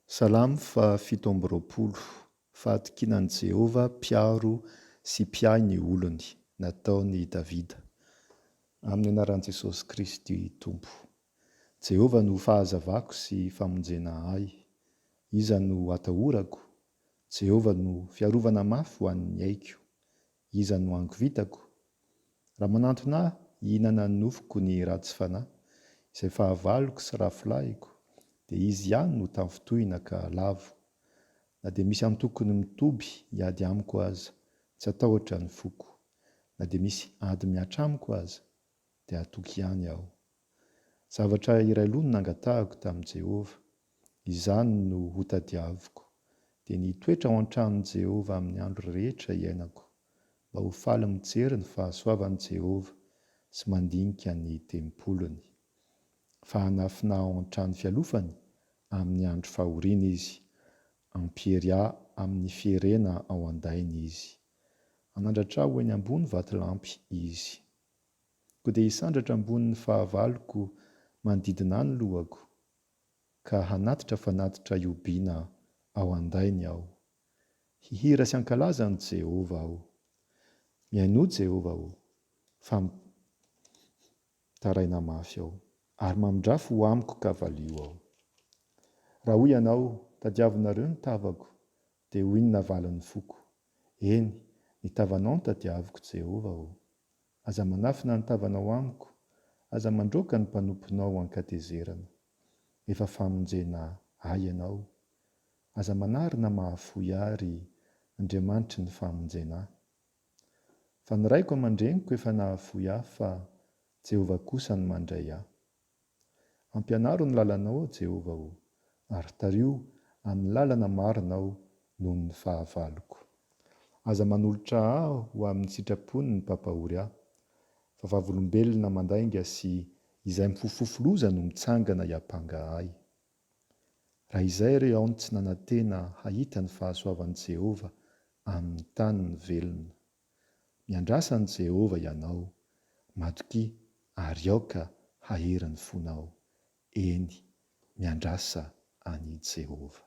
Salamo fahafito amby roapolo. Fahatokiana an'i Jehovah mpiaro sy mpiahy ny olony, nataon'i Davida. Amin'ny anaran'i Jesosy Kristy Tompo. Jehovah no fahazavako sy famonjena ahy. Iza no atahorako? Jehovah no fiarovana mafy ho an'ny aiko. Iza no angovitako? Raha manantona ahy hihinana ny nofoko ny ratsy fanahy, izay fahavaloko sy rafolahiko, dia izy ihany no tafintohina ka lavo. Na dia misy antokony mitoby hiady amiko aza, tsy atahotra ny foko. Na dia misy ady mihatra amiko aza, dia hatoky ihany aho. Zavatra iray loha no nangatahako tamin'i Jehovah, izany no hotadiaviko, dia ny hitoetra ao an-tranon'i Jehovah amin'ny andro rehetra iainako, mba ho faly mijery ny fahasoavan'i Jehovah sy mandinika ny tempoliny. Fa hanafina ao an-trano fialofany amin'ny andro fahoriana izy, hampiery ahy amin'ny fierena ao an-dainy izy. Hanandratra ahy ho eny ambony vatolampy izy. Ko dia hisandratra ambony ny fahavaloko manodidina ahy ny lohako, ka hanatitra fanatitra ihobiana ao an-dainy aho. Hihira sy hankalaza an'i Jehovah aho. Mihainoa Jehovah ô, fa mitaraina mafy aho, ary mamindrafy ho amiko ka valio aho. Raha hoy ianao, Tadiavinareo ny tavako, dia hoy ny navalin'ny foko, Eny, ny tavanao no tadiaviko, Jehovah ô. Aza manafina ny tavanao amiko, aza mandroaka ny mpanomponao ho an-katezerana. Efa famonjena ahy ianao. Aza manary na mahafoy ahy, ry Andriamanitry ny famonjena ahy. Fa ny raiko aman-dreniko efa nahafoy ahy fa Jehovah kosa no mandray ahy. Ampianaro ny lalanao, aho Jehovah ô, ary tariho amin'ny lalana marina aho noho ny fahavaloko. Aza manolotra ahy ho amin'ny sitrapony ny mpampahory ahy, fa vavolombelona mandainga sy izay mifofofofo loza no mitsangana hiampanga ahy. Raha izay re aho no tsy nanantena hahita ny fahasoavan'i Jehovah amin'ny tany ny velona. Miandrasa an'i Jehovah ianao, matokia ary aoka hahery ny fonao. Eny, miandrasa an'i Jehovah.